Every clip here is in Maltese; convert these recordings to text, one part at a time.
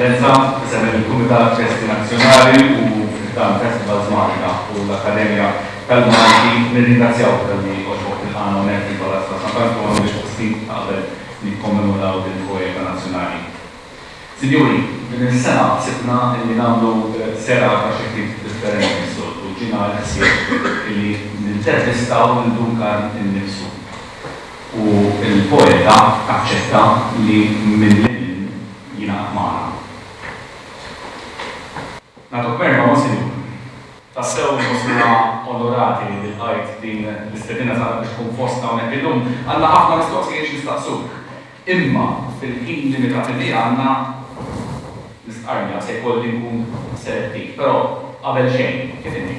Eccellenza, isem il-Kumitat Festi Nazzjonali u dan Festival Zmanika u l-Akkademja tal-Malti nirringrazzjaw tal-li oġbok il-ħana unek il-Palazz ta' Sant'Antonio biex fostin qabel nikkommemoraw din il-poeta nazzjonali. Sinjuri, din is-sena ħsibna illi nagħmlu serata xi ftit differenti mis-soltu. Ġiena l-ħsieb illi nintervistaw lil Duncan innifsu. U l-poeta aċċetta li minn Lilin jingħaqad magħna. Nagħtuk merħba, Monsinjur. Tassew inħossuna onorati li lqajt din l-istedina tagħna biex tkun fostna hawnhekk illum. Għandna ħafna mistoqsijiet x'nistaqsuk. Imma fil-ħin limitati li għandna, l-istqarrija se jkolli nkun selettiv. Però qabel xejn, kif inhi?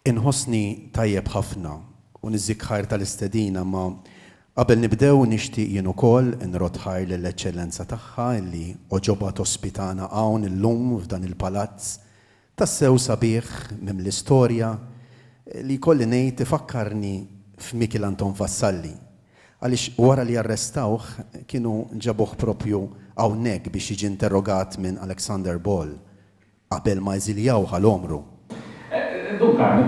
Inħossni tajjeb ħafna u niżżik ħajr tal-istedina imma qabel nibdew nixtieq jien ukoll inrodd ħajr lill-Eċċellenza Tagħha illi għoġobha tospitana hawn illum f'dan il-palazz Tassew sabiħ, mimli storja, li jkolli ngħid ifakkarni f'Mikiel Anton Vassalli, għaliex wara li arrestawh kienu ġabuh proprju hawnhekk biex jiġi interrogat minn Alexander Ball qabel ma eżiljawh għal għomru. Dun Karmu,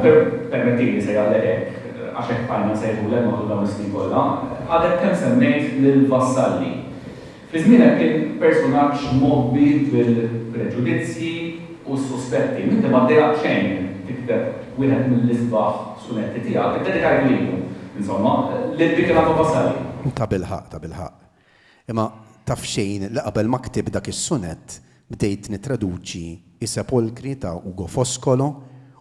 permettili nsejjaħlek hekk, għax hekk tgħallimna nsejħulek matul dawn is-snin kollha, għadek kemm semmejt lil Vassalli. Fi żmienek kien personaġġ mgħobbi bil-preġudizzji u s-suspetti. M'inti ma ddejaqt xejn tikteb wieħed mill-isbaħ sunetti tiegħek, iddedikajtu lilu, insomma, lil dik il-għadwa Vasari. Tabilħaqq, tabilħaqq. Imma taf xejn li qabel ma ktibt dak is-sunett, Bdejt nittraduċi I Sepolkri ta' Ugo Foscolo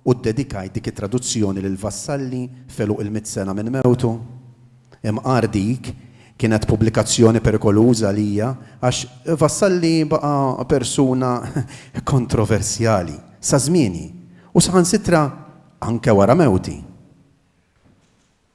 u ddedikajt dik it-traduzzjoni lil Vassalli f'għeluq il-mitt sena minn mewtu. Imqar dik, kienet pubblikazzjoni perikoluża għalija għax Vassalli baqa' persuna kontroversjali sa żmieni u saħansitra anke wara mewti.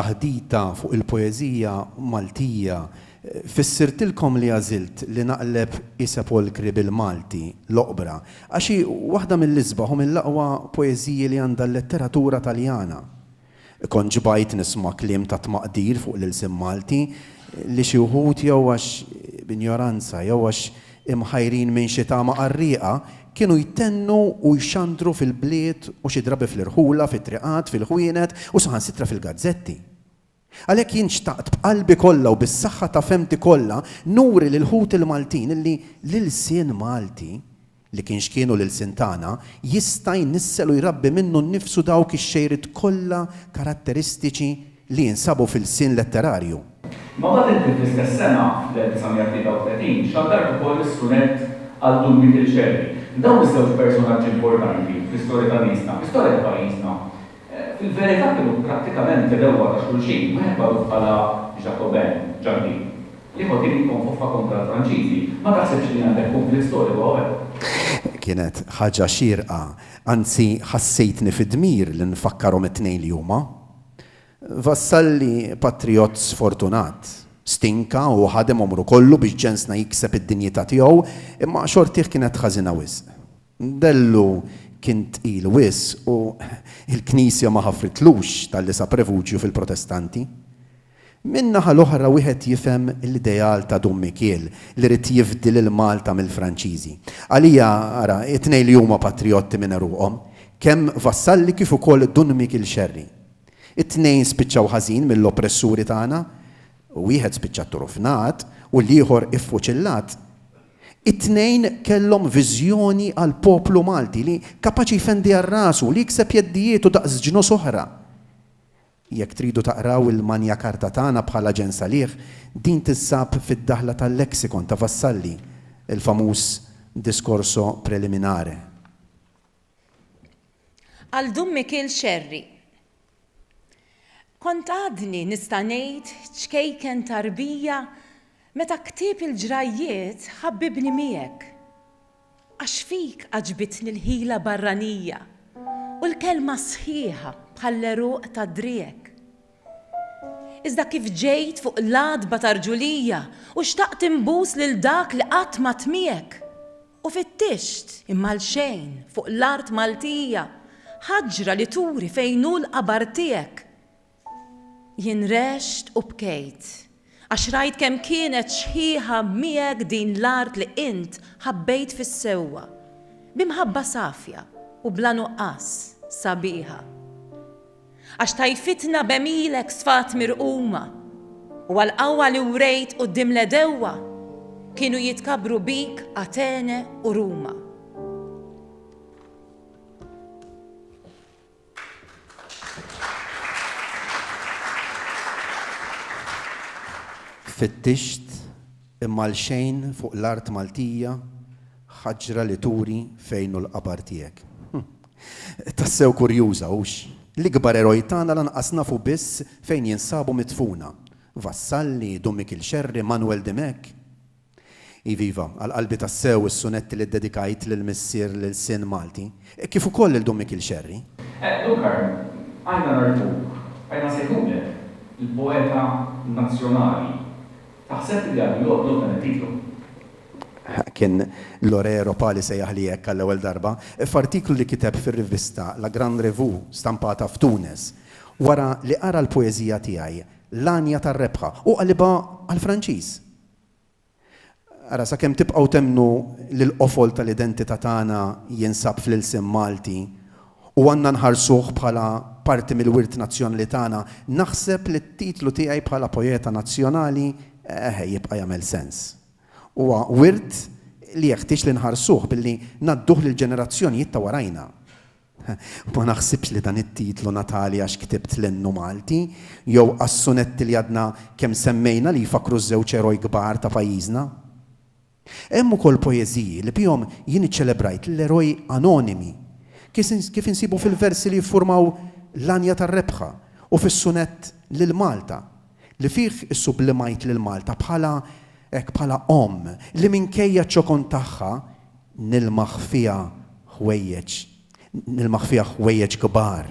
taħdita fuq il-poeżija Maltija. Fissirtilkom li għażilt li naqleb is-sepolkri bil-Malti, l-oqbra, għax hi waħda mill-isbaħ u mill-aqwa poeżiji li għandha l-letteratura Taljana. Kont ġbajt nisma' kliem ta' tmaqdir fuq l-ilsien Malti li xi wħud jew għax b'injoranza jew għax imħajrin minn xi tama qarrieqa kienu jtennu u jxandru fil-bliet u xi drabi fl-irħula, fit-triqat, fil-ħwienet u saħansitra fil-gazzetti. Għalhekk jien xtaqt b'qalbi kollha u bis-saħħa ta' fehmti kollha nuri lil ħuti l-Maltin li l-ilsien Malti li kien x'kienu l-ilsien tagħna, jista' jnissel u jrabbi minnu nnifsu dawk ix-xejriet kollha karatteristiċi li jinsabu f'ilsien letterarju. Ma bad inti fl-istess sena, fl-1933, xandart ukoll is-sunett Għal Dun Mikiel Xerri. Dawn iż-żewġ personaġġi importanti fl-istorja ta' niesna, fl-istorja ta' pajjiżna, Fil-verità kienu prattikament l-ewwa ta' xulxin, wieħed magħruf bħala Jacobin, Ġakbi, li ieħor kien jikkonfoffa kontra l-Franċiżi. Ma taħsibx li għandek kunflitt storiku hawnhekk? Kienet ħaġa xierqa, anzi ħassejtni fid-dmir li nfakkarhom it-tnejn li huma. Vassalli patrijott sfortunat. Stinka u ħadem għomru kollu biex ġensna jikseb id-dinjità tiegħu, imma xortih kienet ħażina wisq. Bellu kien tqil wisq u l-Knisja ma ħafritlux talli sab refuġju fil-Protestanti. Minn naħa l-oħra wieħed jifhem l-ideal ta' Dun Mikiel li ried jifdi lil Malta mill-Franċiżi. Għalija, ara, it-tnejn li huma patrijotti minn għeruqhom, kemm Vassalli kif ukoll Dun Mikiel Xerri. It-tnejn spiċċaw ħażin mill-oppressuri tagħna, wieħed spiċċa tturufnat u l-ieħor iffuċillat. It-tnejn kellhom viżjoni għall-poplu Malti li kapaċi jfendi għal rasu u li jikseb jeddijietu daqs ġnus oħra. Jekk tridu taqraw il-Magna Carta tagħna bħala Ġen Saliħ, din tinsab fid-daħla tal-Lexicon ta' Vassalli, il-famuż Discorso Preliminare. Għal Dun Mikiel Scerri, Kont għadni nista' ngħid ċkejken ta' rbija meta ktieb il-ġrajjiet ħabbibni miegħek. Għax fik għaġbitni l-ħila barranija u l-kelma sħiħa bħall-għeruq tad-driegħek. Iżda kif ġejt fuq l-għatba ta' rġulija u xtaqt inbus lil dak li qatt m'għadd miegħek? U fittixt, imma l-xejn, fuq l-art Maltija, ħaġra li turi fejn hu l-qabar tiegħek! Jien rexxt u bkejt, għax rajt kemm kienet xħiħa miegħek din l-art li int ħabbejt fis-sewwa, bi mħabba safja u bla nuqqas, sabiħa. Għax tajfitna b'għemilek sfat mirquma, U għall-qawwa li wrejt quddiem l-għedewwa, Kienu jitkabbru bik Atene u Ruma. Fittixt, imma għal xejn fuq l-art Maltija ħaġra li turi fejn hu l-qabar tiegħek. Tassew kurjuża, hux? L-ikbar eroj tagħna lanqas nafu biss fejn jinsabu midfuna. Vassalli, Dun Mikiel Scerri, Manwel Dimech? Iviva, għal qalbi tassew is-sunetti li ddedikajt lil missier lil sien Malti, kif ukoll lil Dun Mikiel Scerri. Eh, Dun Karl, għajna ngħarrfuk, għajna nsejħulek l-poeta nazzjonali, Taħseb li għadu joqgħod lok dan it-titlu? Kien Lore Ropa li sejjaħli hekk għall-ewwel darba, f'artiklu li kiteb fir-rivista La Grande Revue stampata f'Tunis, wara li qara l-poeżija tiegħi L-Għanja tar-Rebħa u qalibha għall-Franċiż. Ara, sakemm tibqgħu temmnu li l-qofol tal-identità tagħna jinsab fl-ilsien Malti, u għandna nħarsuh bħala parti mill-wirt nazzjonali tagħna, naħseb li t-titlu tiegħi bħala poeta nazzjonali eħe jibqa' jagħmel sens. Huwa wirt li jeħtieġ li nħarsuh billi ngħadduh lill-ġenerazzjonijiet ta' warajna. Ma naħsibx li dan it-titlu ngħatali għax ktibt l-Innu Malti jew għas-sunetti li għadna kemm semmejna li jfakkru ż-żewġ eroj kbar ta' pajjiżna. Hemm ukoll poeżiji li bihom jien iċċelebrajt l-eroj anonimi, kif insibu fil-versi li jiffurmaw L-Għanja tar-Rebħa u fis-sunett Lil Malta, li fih issublimajt lil Malta bħala, hekk, bħala omm li minkejja ċ-ċokon tagħha nilmaħ fiha ħwejjeġ, nilmaħ fiha ħwejjeġ kbar.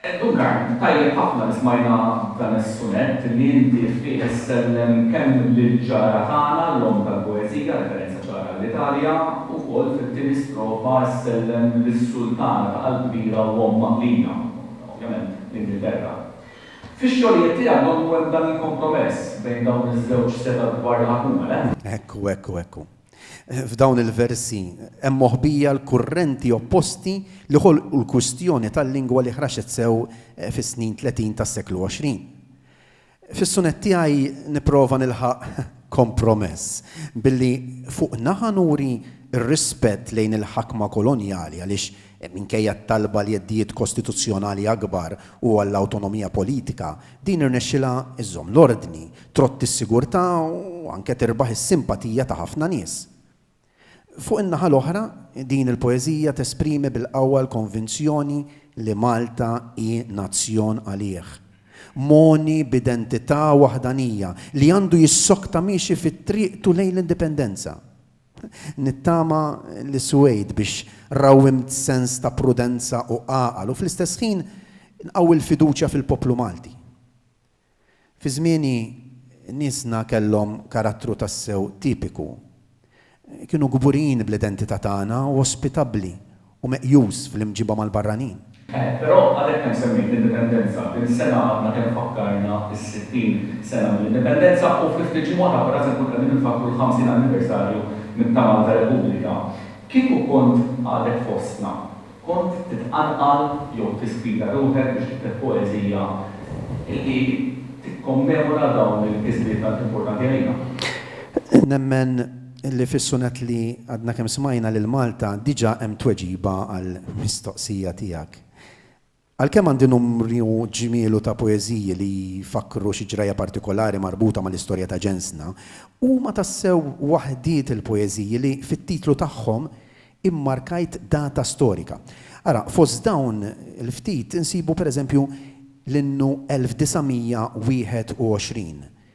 Duncan, tajjeb ħafna li smajna dan is-sunett li inti fih issellem kemm lill-ġara tagħna, l-omm tal-poeżija, referenza ċara għall-Italja, u wkoll fit-tieni strofa ssellem lis-sultana ta' qalb kbira u omm maqlija, ovvjament, l-Ingilterra. Fix-xogħlijiet tiegħek donnu hemm dan il-kompromess bejn dawn iż-żewġ setgħat kbar li ħakuma, le? Ekku, ekku, ekku. F'dawn il-versi hemm moħbija l-kurrenti opposti li ħolqu l-kwistjoni tal-lingwa li ħraxet sew fis-snin tletin tas-seklu għoxrin. Fis-sunett tiegħi nipprova nilħaq kompromess billi fuq naħa nuri r-rispett lejn il-ħakma kolonjali għaliex Minkejja t-talba għal jeddijiet kostituzzjonali akbar u għall-awtonomija politika, din irnexxilha żżomm l-ordni, trotti s-sigurtà u anke tirbaħ is-simpatija ta' ħafna nies. Fuq in-naħa l-oħra, din il-poeżija tesprimi bil-qawwa l-konvinzjoni li Malta hi nazzjon għalih, mogħni b'identità waħdanija, li għandu jissokta miexi fi triqtu lejn l-indipendenza. Nittama li suwejt biex rawwimt sens ta' prudenza u għaqal u fl-istess ħin nqawwi l-fiduċja fil-poplu Malti. Fi żmieni niesna kellhom karattru tassew tipiku. Kienu kburin bl-identità tagħna u ospitabbli u meqjus fl-imġiba mal-barranin. Eh, però għadek kemm semmejt l-Indipendenza. Din is-sena għadna kemm fakkarna s-sittin sena mill-Indipendenza u fi ftit ġimgħat aktar se nkunu qegħdin infakkru l-ħamsin anniversarju minn ta' Malta Repubblika. Kieku kont għadek fostna, kont titqanqal jew tispira ruħek biex tikteb poeżija li tikkommemora dawn il-kisbiet tant importanti għalina? Nemmen Illi fis-sunett li għadna kemm smajna lil Malta diġà hemm tweġiba għall-mistoqsija tiegħek. Għalkemm għandi numru ġmielu ta' poeżiji li jfakkru xi ġrajja partikolari marbuta mal-istorja ta' ġensna, huma tassew waħdiet il-poeżiji li fit-titlu tagħhom immarkajt data storika. Ara, fost dawn il-ftit insibu pereżempju l-innu 1921,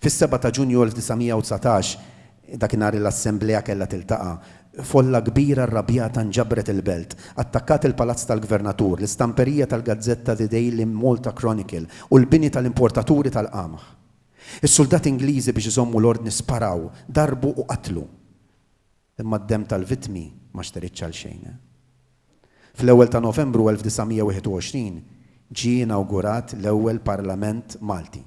Fis-seba' ta' Ġunju 1919, dakinhar l-Assemblea kellha tiltaqa', folla kbira rrabjata nġabret il-belt, attakkat il-Palazz tal-Gvernatur, l-istamperija tal-gazzetta The Daily Malta Chronicle u l-bini tal-importaturi tal-qamħ. Is-suldati Ingliżi biex iżommu l-ordni sparaw, darbu u qatlu. Imma d-demm tal-vittmi ma xteritx għal xejn. Fl-ewwel ta' Novembru 1921 ġie inawgurat l-ewwel Parlament Malti.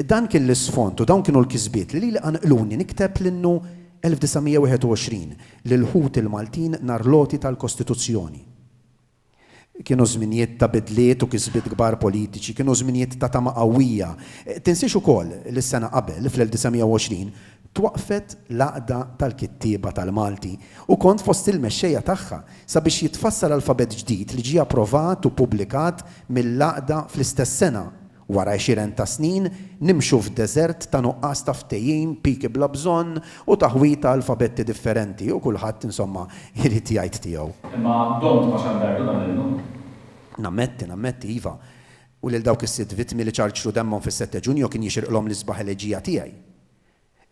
Dan kien l-isfond u dawn kienu l-kisbiet li lili qanqluni nikteb l-Innu 1921 lill-ħuti l-Maltin nhar l-għoti tal-Kostituzzjoni. Kienu żminijiet ta' bidliet u kisbiet kbar politiċi, kienu żminijiet ta' tama qawwija. Tinsiex ukoll li s-sena qabel, fl-1920, twaqqfet l-Għaqda tal-Kittieba tal-Malti u kont fost il-mexxejja tagħha sabiex jitfassal alfabett ġdid li ġie approvat u ppubblikat mill-Għaqda fl-istess sena Wara għexieren ta' snin, nimxu f'deżert ta' nuqqas ta' ftehim, piki bla bżonn, u taħwid ta' alfabetti differenti, u kulħadd, insomma, irid jgħid tiegħu. Imma domt ma xandajtu dan illum. Nammetti, nammetti, iva. U lil dawk is-sitt vittmi li ċarċru demmhom fis-sette Ġunju kien jixirqlhom l-isbaħ eleġija tiegħi.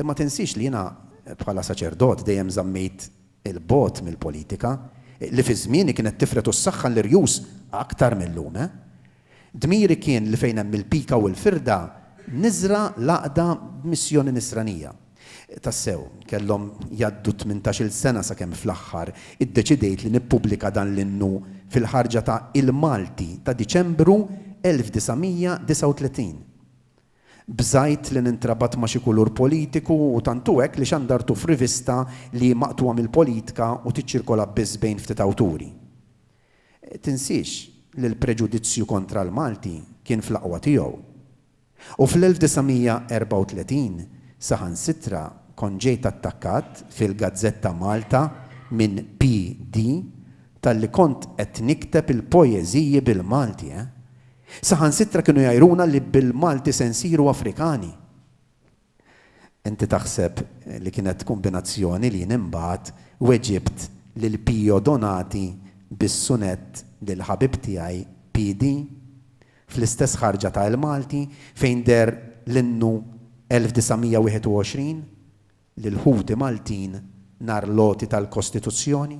Imma tinsiex li jiena bħala saċerdot dejjem żammejt 'il bogħod mill-politika, li fi żmieni kienet tifred u ssaħħan l-irjus aktar mil-lum, eh. Dmiri kien li fejn hemm il-pika u l-firda niżra' l-għaqda b'missjoni nisranija. Tassew, kellhom jgħaddu tmintax-il sena sakemm fl-aħħar iddeċidejt li nippubblika dan l-innu fil-ħarġa ta' Il-Malti ta' Diċembru 1939. Bżajt li nintrabat ma' xi kulur politiku u tant hu hekk li xandartu f'rivista li hi maqtugħa mill-politka u tiċċirkola biss bejn ftit awturi. Tinsiex li l-preġudizzju kontra l-Malti kien fl-aqwa tiegħu. U fl-1934 saħansitra kont ġejt attakkat fil-gazzetta Malta minn PD talli kont qed nikteb il-poeżiji bil-Malti, eh! Saħansitra kienu jgħiruna li bil-Malti se nsiru Afrikani. Inti taħseb li kienet kumbinazzjoni li jien imbagħad weġibt lil Pio Donati bis-sunett lil ħabib tiegħi PD? Fl-istess ħarġa ta' El Malti fejn deher l-innu 1921 lil ħuti Maltin nhar l-għoti tal-Kostituzzjoni?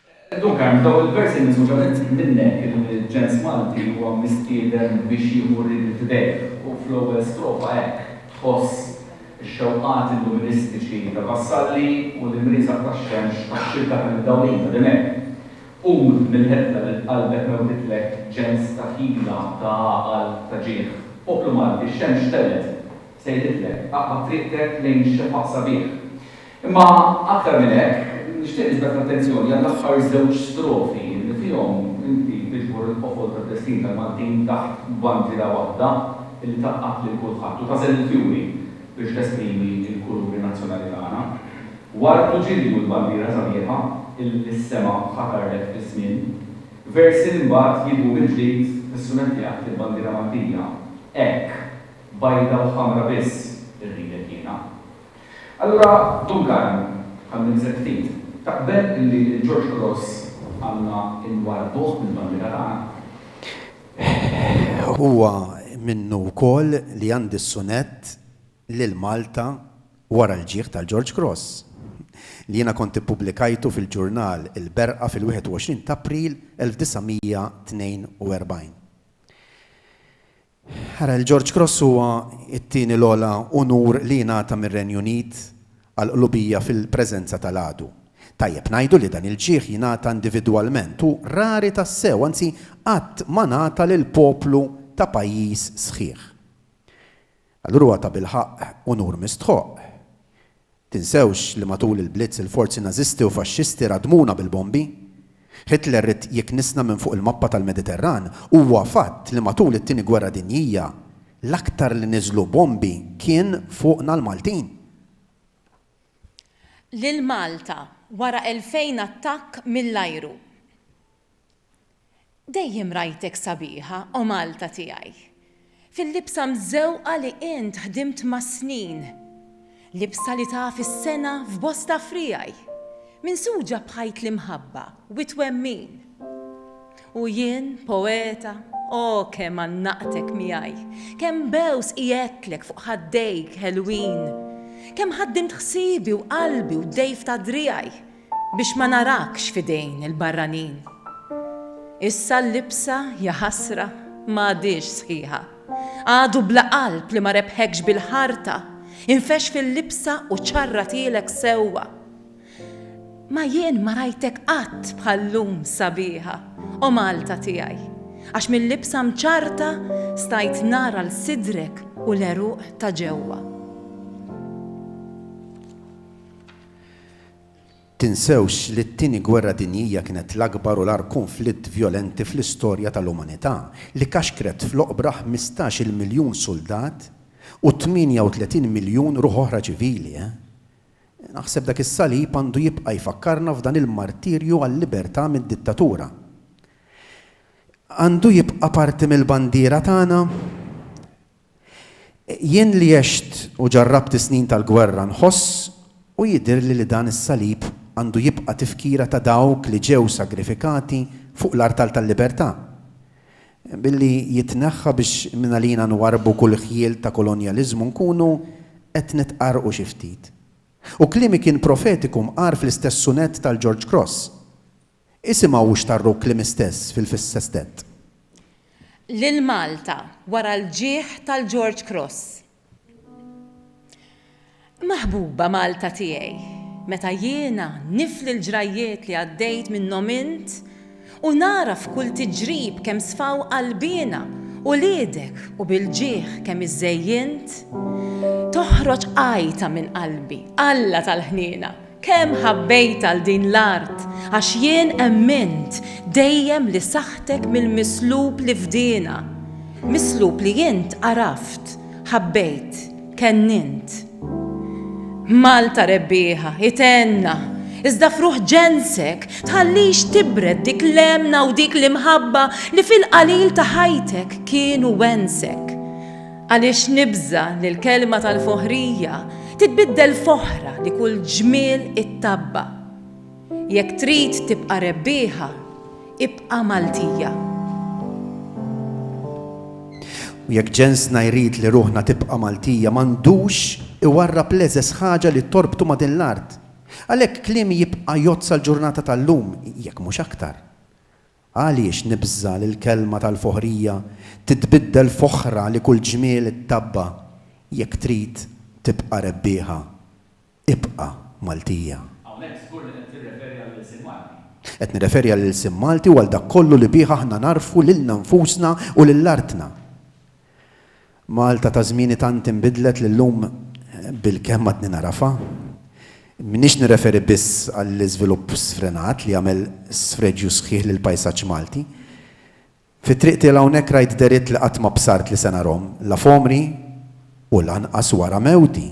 Dun Karm, f'dawk il-versi miżmura minnek, il-ġens Malti huwa mistieden biex jieħu ried f'idejh u fl-ewwel strofa hekk tħoss ix-xewqat illuministiċi ta' Vassalli u l-imrieżaq tax-xemx tax-xibka tal-imdawlin ta' Dimech. Qum mill-ħedla li f'qalbek mewtitlek ġens ta' ħila, ta' għaqal, ta' ġieħ. Poplu Malti, x-xemx telgħet, sejħitlek, aqta' triqtek lejn xefaq sabiħ. Imma aktar minn hekk, nixtieq niġbed l-attenzjoni għall-aħħar żewġ strofi li fihom inti tiġbor il-qofol tad-destin tal-Maltin taħt bandiera waħda li tgħaqqad lil kulħadd u tagħżel il-fjuri biex tesprimi l-kuluri nazzjonali tagħna. Ward u ġilju l-bandiera sabiħa illi s-sema ħatarlek fiż-żmien. Versi li mbagħad jidwu mill-ġdid fis-sunett li għadt il-bandiera Maltija, Hekk, bajda u ħamra biss irridek jiena. Allura Duncan, bħal min iżen ftit, taqbel illi lil George Grosz għandna nwarrbuh mill-bandiera tagħna? Hehehehe Huwa minnu wkoll li għandi s-sunett Lil Malta wara l-ġieħ tal George Grosz, li jiena kont ippubblikajtu fil-ġurnal Il-Berqa fil-21 t'April 1942. Ara, il-George Cross huwa t-tieni l-ogħla unur li jingħata mir-Renju Unit għall-qlubija fil-preżenza tal-għadu. Tajjeb ngħidu li dan il-ġieħ jingħata individwalment u rari tassew, anzi qatt ma ngħata lil poplu ta' pajjiż sħiħ. Allura huwa tabilħaqq unur mistħoqq. Tinsewx li matul il-Blitz il-forzi Nażisti u Faxxisti radmuna bil-bombi. Hitler ried jiknisna minn fuq il-mappa tal-Mediterran. Huwa fatt li matul it-Tieni Gwerra Dinjija l-aktar li niżlu bombi kien fuqna l-Maltin. Lil Malta, wara elfejn attakk mill-ajru. Dejjem rajtek sabiħa, O Malta tiegħi. Fil-libsa mżewqa li int ħdimt mas-snin. Libsa li taf is-sengħa f'bosta friegħi. Minsuġa b'ħajt l-imħabba u t-twemmin. U jien, poeta, O kemm għannaqtek miegħi. Kemm bgħus qiegħedtlek fuq ħaddejk ħelwin. Kemm ħaddimt ħsiebi u qalbi u d-dgħif ta' driegħi. Biex ma narakx f'idejn il-barranin. Issa l-libsa, jaħasra, m'għadhiex sħiħa. Għadu bla qalb li ma rebħekx bil-ħarta, infexx fil-libsa u ċarratilek sewwa. Ma jien ma rajtek qatt bħal-lum sabiħa, O Malta tiegħi, għax mil-libsa mċarrta stajt nara 'l sidrek u l-għeruq ta' ġewwa. Tinsewx li t-Tieni Gwerra Dinjija kienet l-akbar u l-agħar kunflitt vjolenti fl-istorja tal-umanità, li kaxkret fl-oqbra ħmistax-il miljun suldat u 38 miljun ruħ oħra ċivili, eh? Naħseb dak is-salib għandu jibqa' jfakkarna f'dan il-martirju għal-libertà mid-dittatura. Għandu jibqa' parti mill-bandiera tagħna. Jien li għext u ġarrabt is-snin tal-gwerra nħoss u jidhirli li dan is-salib għandu jibqa' tifkira ta' dawk li ġew sagrifikati fuq l-artal tal-libertà. Billi jitneħħa biex mingħalina nwarrbu kull ħjiel ta' kolonjaliżmu nkunu qed nitqarrqu xi ftit. U kliemi kien profetiku mqar fl-istess sunett tal-George Cross. Isimgħu x'tarruk kliem istess fil-fissa stent. Lil Malta wara l-ġieħ tal-George Cross. Maħbuba Malta tiegħi, meta jiena nifli l-ġrajjiet li għaddejt minnhom int u nara f'kull tiġrib kemm sfaw qalbiena uliedek u bil-ġieħ kemm iżżejjint, toħroġ għajta minn qalbi, Alla tal-ħniena! Kemm ħabbejt għal din l-art, għax jien emmint dejjem li saħħtek mill-mislub li fdiena, mislub li int għaraft, ħabbejt, kennint. Malta rebbieħa, itenna, iżda fruħ ġensek, tħallix tibred dik l-emna u dik l-imħabba li fil-qalil ta' ħajtek kienu wensek. Għaliex nibża' li l-kelma tal-foħrija titbiddel f'oħra li kull ġmiel ittabba'? Jekk trid tibqa' rebbieħa, ibqa' Maltija. U jekk ġensna jrid li ruħna tibqa' Maltija, m'għandux iwarrab l-eżeż ħaġa li torbtu ma' din l-art. Għalhekk kliemi jibqa' jgħodd sal-ġurnata tal-lum, jekk mhux aktar. Għaliex nibża' li l-kelma tal-foħrija titbiddel f'oħra li kull ġmiel ittabba' jekk trid tibqa' rebbieħa? Ibqa' Maltija! Hawnhekk żgur li qed tirreferi għall-ilsien Malti. Qed nirreferi għall-ilsien Malti u għal dak kollu li bih aħna nagħrfu lilna nfusna u lil artna. Malta ta' żmieni tant inbidlet li llum bilkemm għadni nagħrafha. M'iniex nirreferi biss għall-iżvilupp sfrenat li għamel sfreġju sħiħ lill-pajsaġġ Malti. Fit-triq tiela hawnhekk rajt dehriet li qatt ma bsart li se narhom, la f'għomri u lanqas wara mewti.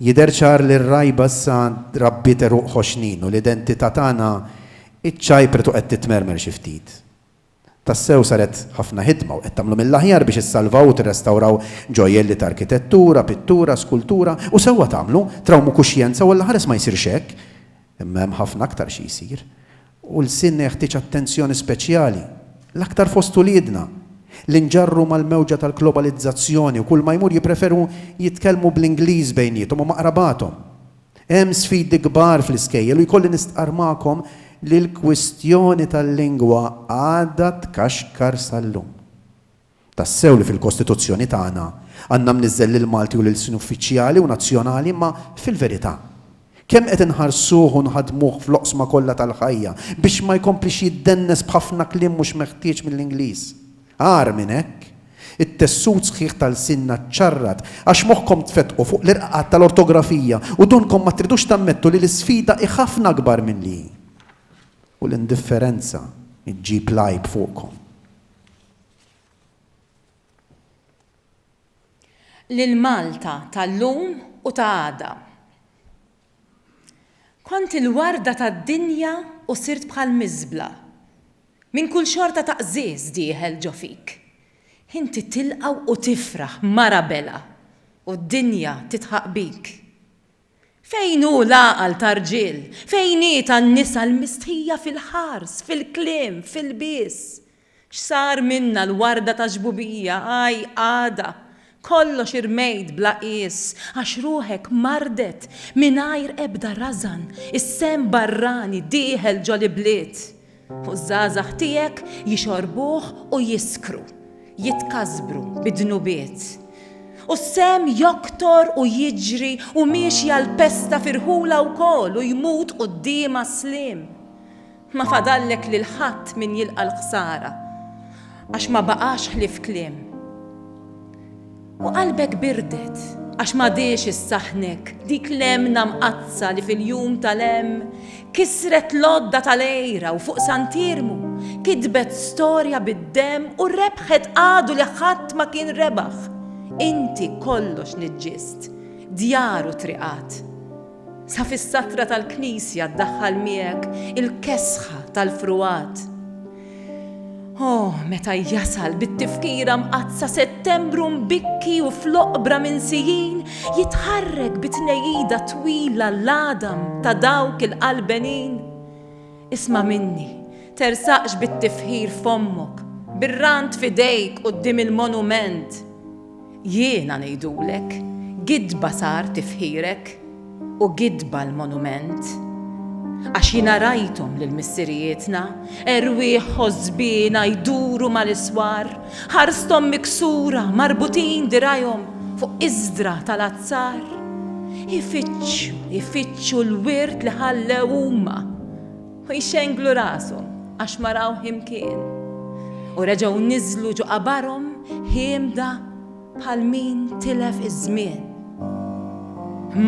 Jidher ċar li r-rgħiba issa rabbiet għeruq ħoxnin u l-identità tagħna ċċajpret u qed titmermer xi ftit. Tassew saret ħafna ħidma u qed tagħmlu mill-aħjar biex issalvaw u tirrestawraw ġojjel li ta' arkitettura, pittura, skultura, u sewwa tagħmlu, trawmu kuxjenza u Alla ħares ma jsirx hekk, imma hemm ħafna aktar xi jsir. U lsien jeħtieġ attenzjoni speċjali, l-aktar fost uliedna, li nġarru mal-mewġa tal-globalizzazzjoni u kulma jmur jippreferu jitkellmu bl-Ingliż bejniethom u ma' qrabathom. Hemm sfidi kbar fl-iskejjel u jkolli nistqarr magħkom li l-kwistjoni tal-lingwa għadha tkaxkar sal-lum. Tassew li fil-Kostituzzjoni tagħna għandna mniżżel lill-Malti u l-ilsien uffiċjali u nazzjonali imma fil-verità, kemm qed inħarsuh u nħaddmuh fl-oqsma kollha tal-ħajja biex ma jkomplix jiddennes b'ħafna kliem mhux meħtieġ mill-Ingliż? Agħar minn hekk, it-tessut sħiħ ta' lsienna ċċarrat għax moħħkom tfettqu fuq l-irqaqat tal-ortografija u donkom ma tridux tammettu li l-isfida hi ħafna akbar milli hi. U l-indifferenza ġġib l-għajb fuqkom. L-Malta tal-lum u ta' għada. Kont il-warda tad-dinja u sirt bħal miżbla. Minn kull xorta ta' qżież dieħel ġo fik. Inti tilqa' u tifraħ, mara belha, u d-dinja tidħaq bik. Fejn hu l-għaqal ta' rġiel? Fejn hi tan-nisa l-mistħija fil-ħars, fil-kliem, fil-lbies? X'sar minna l-warda ta' ġbubija, aj, għada, kollox irmejt bla qies, għax ruħek mardet mingħajr ebda rażan, is-sehem barrani dieħel ġol-ibliet, u ż-żgħażagħ tiegħek jixorbuh u jiskru, jitkasbru bid-dnubiet, u s-sehem joktor u jiġri u miexja l-pesta firħula wkoll u jmut quddiemha s-sliem. Ma fadallek lil ħadd min jilqa' l-ħsara, għax ma baqax ħlief kliem. U qalbek birdet, għax m'għadhiex issaħħnek dik l-hemna mqaddsa li fil-jum tal-hemm kisret l-għodda tal-għira u fuq Sant Iermu kitbet storja bid-demm u rebħet għadu li ħadd ma kien rebaħ, inti kollox niġġiżt, djar u triqat. Sa fis-satra tal-knisja ddaħħal miegħek il-kesħa tal-fruwat. O, meta jasal bit-tifkira mqaddsa Settembru mbikki u fl-oqbra minsijin jitħarrek bi tnejjida twila l-għadam ta' dawk il-qalbenin! Isma' minni, tersaqx bit-tifħir f'ommok, bir-rant f'idejk quddiem il-monument! Jiena ngħidulek, gidba sar tifħirek, u gidba l-monument. Għax jiena rajthom lil missirijietna, erwieħ ħosbiena jduru mal-iswar, ħarsthom miksura, marbutin dirgħajhom fuq iżdra tal-azzar. Ifittxu, ifittxu l-wirt li ħallew huma. U jxenglu rashom għax ma raw himkien. U reġgħu niżlu ġo qabarhom hiemda bħal min tilef iż-żmien.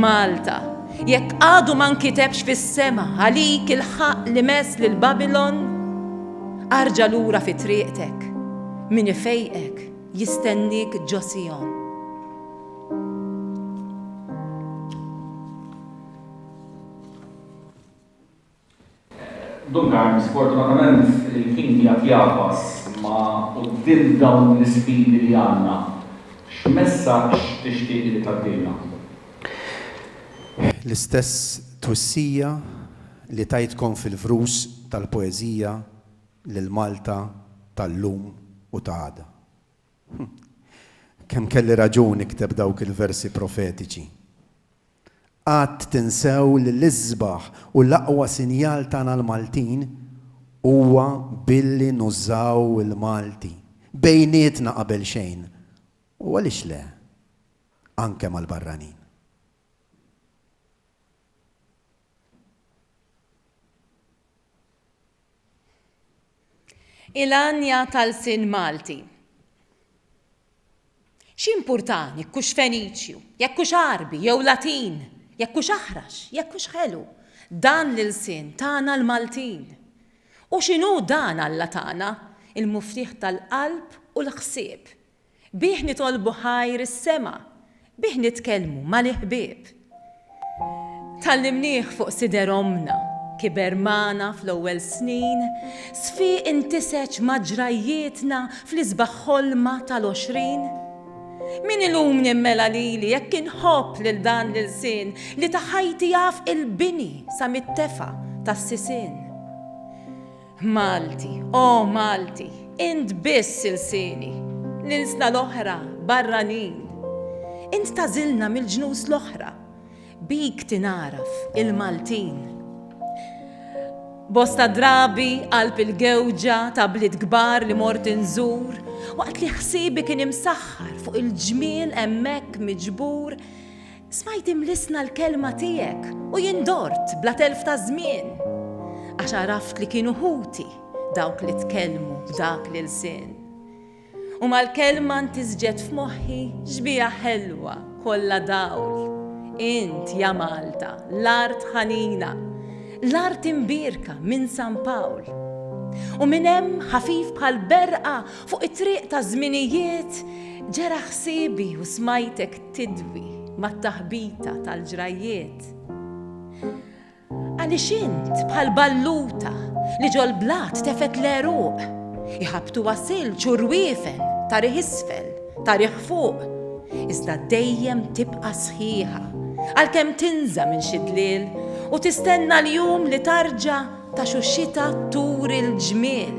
Malta, jekk għadu ma nkitebx fis-sema għalik il-ħaqq li mess lil Babilon, arġa' lura fi triqtek, min ifejqek jistenniek ġo Sijon. Duncan, Sfortunatament il-ħin jgħad jagħfas, imma quddiem dawn l-isfidi li għandna, x'messaġġ tixtieq li tgħaddilna? L-istess twissija li tajtkom fil-vrus tal-poeżija lil Malta tal-lum u ta' għada. Hu, kemm kelli raġun nikteb dawk il-versi profetiċi! Qatt tinsew li l-isbaħ u l-aqwa sinjal tagħna l-Maltin huwa billi nużaw il-Malti, bejnietna qabel xejn, u għaliex le, anke mal-barranin. Il-għanja tal-sin Malti. X'jimpurtani jekk hux Feniċju, jekk hux Għarbi jew Latin, jekk hux Aħrax, jekk hux ħelu, dan l-ilsien tagħna l-Maltin. U x'inhu dan Alla tana, il-Muftiħ tal-qalb u l-ħsieb, Bih nitolbu ħajr is-sema, bih nitkellmu mal-iħbieb. Tgħallimnieh fuq sider ommna, kiber magħna fl-ewwel snin, sfiq intiseġ ma' ġrajjietna fl-isbaħ ħolma tal-għoxrin. Min illum nimmela lili jekk inħobb lil dan l-ilsien li ta' ħajti jaf il-bini sa mit-tefa' tas-sisien. Malti, O Malti, int biss ilsieni, l-ilsna l-oħra barranin. Int tagħżilna mill-ġnus l-oħra, bik tingħaraf il-Maltin. Bosta drabi qalb il-gewġa ta' bliet kbar li mort inżur, waqt li ħsiebi kien imsaħħar fuq il-ġmiel hemmhekk miġbur, Smajt imlissna l-kelma tiegħek u jien dort bla telf ta' żmien, għax għaraft li kienu ħuti dawk li tkellmu b'dak l-ilsien. U mal-kelma ntisġet f'moħħi xbieha ħelwa kollha dawl, int ja Malta, l-art ħanina, l-art imbierka minn San Pawl. U minn hemm ħafif bħal berqa fuq it-triq taż-żminijiet ġera ħsiebi u smajtek tidwi mat-taħbita tal-ġrajjiet. Għaliex int bħal balluta li ġol-blat tefgħet l-għeruq, iħabbtuha silġ u rwiefen ta' riħ isfel, ta' riħ fuq, iżda dejjem tibqa' sħiħa għalkemm tinża minn xi dliel u tistenna l-jum li tarġa' ta' xu xita turi l-ġmiel.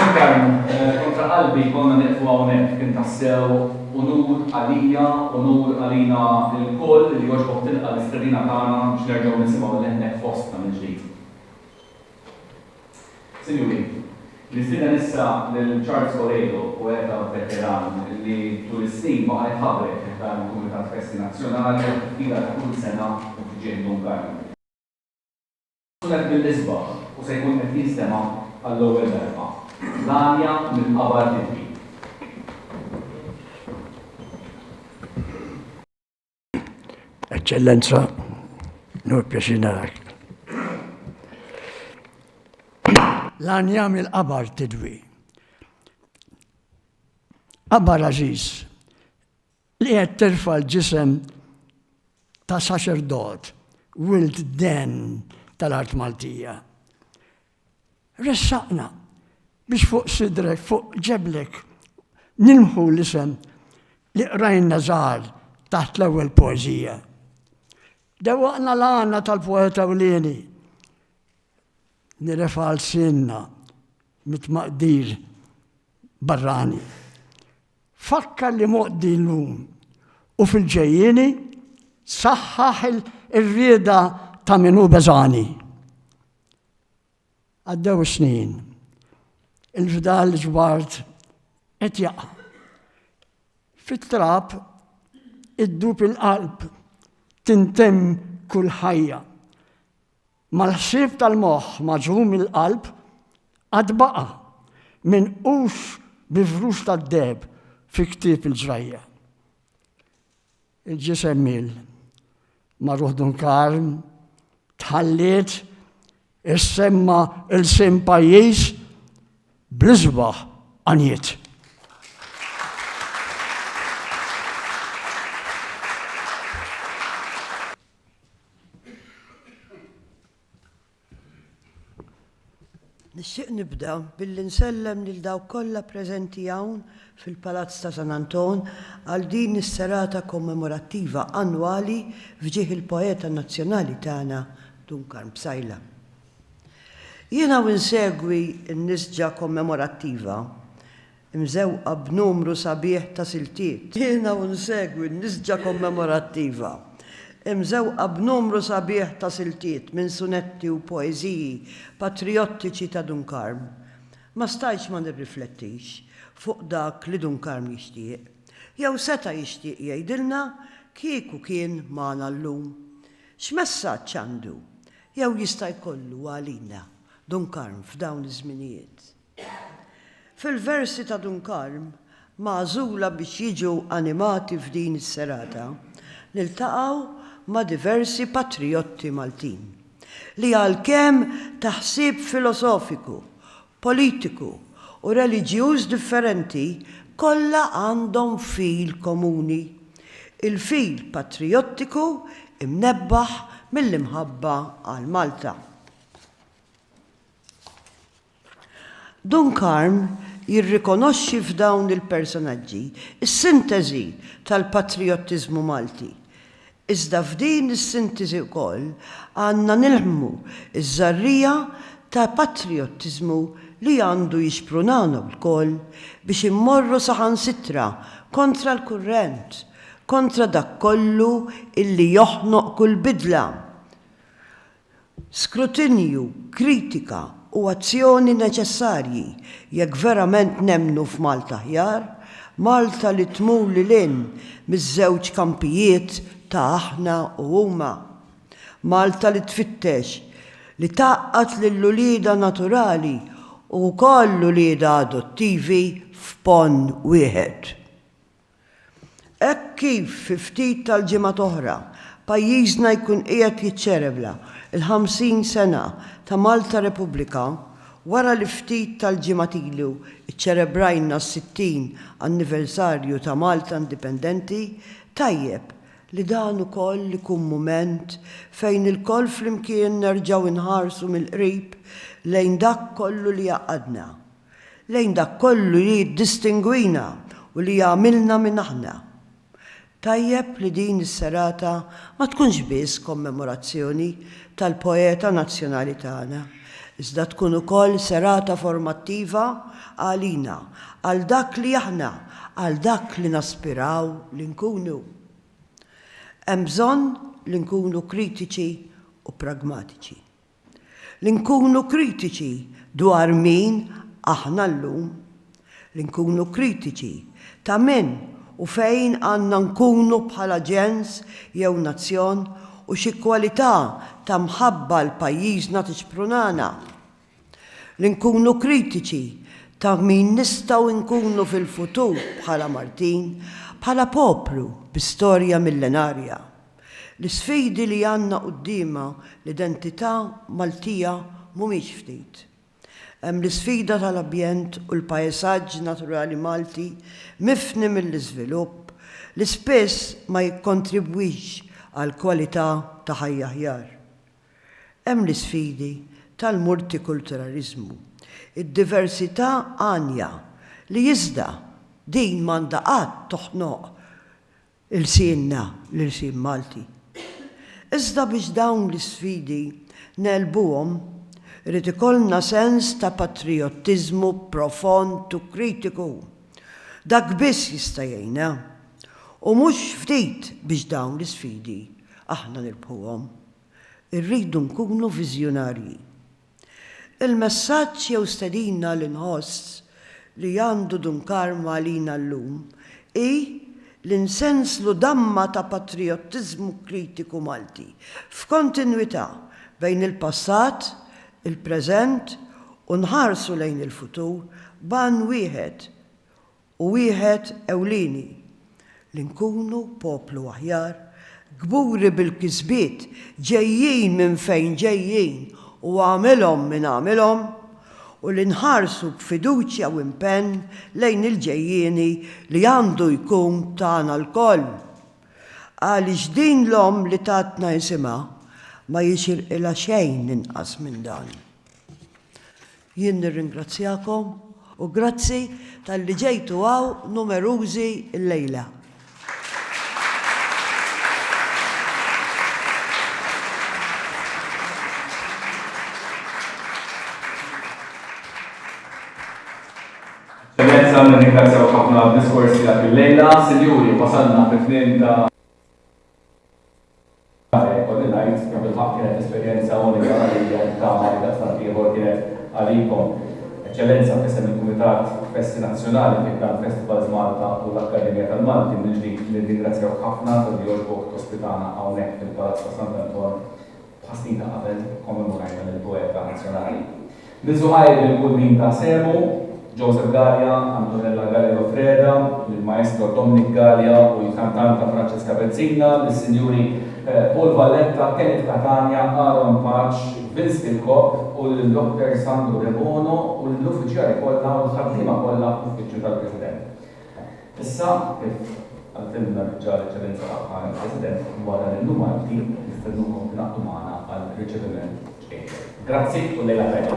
Ġifieri, kontra qalbi konna nieqfu hawnhekk. Kien tassew unur għalija, unur għalina lkoll li jogħġbok tilqa' l-istedina tagħna biex nerġgħu nisimgħu leħnek fostna mill-ġdid. Sinjuri, nistieden issa lil Charles Coledo, poeta veteran li tul is-snin baqa' jħabrek fi ħdan il-Kumitat Festi Nazzjonali u fi fkira ta' kull sena u fi ġieħ Dun Karlu. Sunet mill-isbaħ u se jkun qed jinstema' għall-ewwel darba, L-għanja mill-qabar tidbi. Eċċellenza, nur pjaċir narak. Lan jagħmel qabar tidwi. Qabar aziz, li qed terfa' l-ġisem ta' saċerdot, wild den tal-art Maltija. Ressaqna biex fuq sidrek, fuq ġeblek, nimħu l-isem li qrajna żgħar taħt l-ewwel poeżija. Dewwaqna l-għana tal-poeta ewlieni nirefgħu lsienna mit-tmaqdir barrani. Fakkar li moqdi llum u fil-ġejjieni saħħaħ ir-rieda ta' min hu beżgħani. Għaddew is-snin. Il-fdal ġbart qed jaqa'. Fit-trab iddub il-qalb, tintemm kull ħajja. Mal-ħsieb tal-moħħ maġrum il-qalb għad baqa' minqux bi frux tad-deheb fi ktieb il-ġrajja. Il-ġisem mill. Magħruh Dunkarn, tħalliet issemma ilsien pajjiż bl-isbaħ għanjiet. Nixtieq nibda billi nsellem lil dawk kollha preżenti hawn fil-Palazz ta' San Anton għal din is-serata kommemorattiva annwali f'ġieħ il-poeta nazzjonali tagħna Dun Karm Psaila. Jiena u nsegwi n-nisġa kommemorattiva imżewqa b'numru sabiħ ta' siltiet. Jiena u nsegwi n-nisġa kommemorattiva, imżewqa b'numru sabiħ ta' siltiet minn sunetti u poeżiji patrijottiċi ta' Dun Karm, ma stajtx ma nirriflettix fuq dak li Dun Karm jixtieq, jew seta' jixtieq jgħidilna kieku kien magħna llum. X'messaġġ għandu, jew jista' jkollu għalina Dun Karm f'dawn iż-żminijiet? Fil-versi ta' Dun Karm, magħżula biex jiġu animati f'din is-serata, niltaqgħu ma' diversi patrijotti Maltin, li għalkemm ta' ħsieb filosofiku, politiku u reliġjuż differenti, kollha għandhom fil komuni, il-fil patrijottiku mnebbaħ mill-imħabba għal Malta. Dun Karm jirrikonoxxi f'dawn il-personaġġi s-sinteżi tal-patrijottiżmu Malti. Iżda f'din is-sintiżi wkoll għandna nilhmmu ż-żarrija ta' patrijottiżmu li għandu jixprunana wlkoll biex immorru saħansitra kontra l-kurrent, kontra dak kollu illi joħnoq kull bidla. skrutinju, kritika u azzjoni neċessarji jekk verament nemmnu f'Malta aħjar, Malta li tmur lil hinn miż-żewġ kampijiet ta' aħna u huma. Malta li tfittex li tgħaqqad lil uliedha naturali u wkoll uliedha adottivi f'ponn wieħed. Hekk kif fi ftit tal-ġimgħat oħra pajjiżna jkun qiegħed jiċċelebra l-50 sena ta' Malta Repubblika, wara li ftit tal-ġimgħat ilu ċċelebrajna s-60 anniversarju ta' Malta indipendenti, tajjeb li dan ukoll ikun mument fejn ilkoll flimkien nerġgħu nħarsu mill-qrib lejn dak kollu li jgħaqqadna. lejn dak kollu li jiddistingwina u li jagħmilna min aħna. Tajjeb li din is-serata ma tkunx biss kommemorazzjoni tal-poeta nazzjonali tagħna, iżda tkun ukoll serata formattiva għalina, għal dak li aħna, għal dak li naspiraw li nkunu. Hemm bżonn li nkunu kritiċi u pragmatiċi. Li nkunu kritiċi dwar min aħna llum. Li nkunu kritiċi ta' min u fejn għandna nkunu bħala ġens jew nazzjon u xi kwalità ta' mħabba 'l pajjiżna tixprunana. Li nkunu kritiċi ta' min nistgħu nkunu fil-futur bħala Maltin, bħala poplu bi storja millenarja. L-isfidi li għandna quddiemha l-identità Maltija mhumiex ftit. Hemm l-isfida tal-abjent u l-paesaġġ naturali Malti mifni mill-iżvilupp li spiss ma jikkontribwix għal kwalità ta' ħajja aħjar. Hemm l-isfidi tal-multikulturaliżmu, id-diversità għanja li iżda din m'għandha qatt toħnoq ilsienna, l-ilsien Malti. Iżda biex dawn l-isfidi negħlbuhom, irid ikollna sens ta' patrijottiżmu profond u kritiku. Dak biss jista' jgħinna, u mhux ftit biex dawn l-isfidi aħna nirbħuhom. Irridu nkunu viżjonarji. Il-messaġġ jew stedina li nħoss li għandu Dun Karma għalina llum hi li nsenslu damma ta' patrijottiżmu kritiku Malti f'kontinwità bejn il-passat, il-preżent u nħarsu lejn il-futur b'għan wieħed u wieħed ewlieni, li nkunu poplu aħjar, kburi bil-kisbiet ġejjin minn fejn ġejjin u għamilhom min għamilhom, u li nħarsu b'fiduċja u impenn lejn il-ġejjieni li għandu jkun tagħna lkoll. Għaliex din l-omm li tatna isimha ma jixirqilha xejn inqas minn dan. Jien nirringrazzjakom u grazzi talli ġejtu hawn numerużi llejla. Eċċellenza, nirringrazzjawk ħafna għad-diskors tiegħek illejla. Sinjuri, wasalna fit-tmiem ta'. Mare, jkolli ngħid, kemm fil-ħaqq kienet esperjenza unika għalija u nittama li daqstant ieħor kienet għalikom. Eċċellenza, f'isem il-Kumitat Festi Nazzjonali fi ħdan Festivals Malta u l-Akkademja tal-Malti, mill-ġdid nirringrazzjawk ħafna talli għoġbok tospitana hawnhekk fil-Palazz ta' Sant'Anton, Tħa snin ta' qabel kkommemorajna lill-poeta nazzjonali Min Zuhajr lil kull min ta sehmu, Joseph Galea, Antonella Galea Freda, lill-Maestro Dominic Galea u l-kantanta Francesca Pezzina, lis-Sinjuri Paul Valletta, Kenneth Catania, Aaron Paċ, Vince Kirkop u lil Dottor Sandro Debono u lill-uffiċjali kollha u l-ħaddiema kollha fl-Uffiċċju tal-President. Issa, kif għaltilna diġà l-Eċċellenza tagħha l-President, dwar dan il-Jum Malti, nistennukom tingħaqdu magħna għal riċeviment ċkejken. Grazzi u lejla tajba.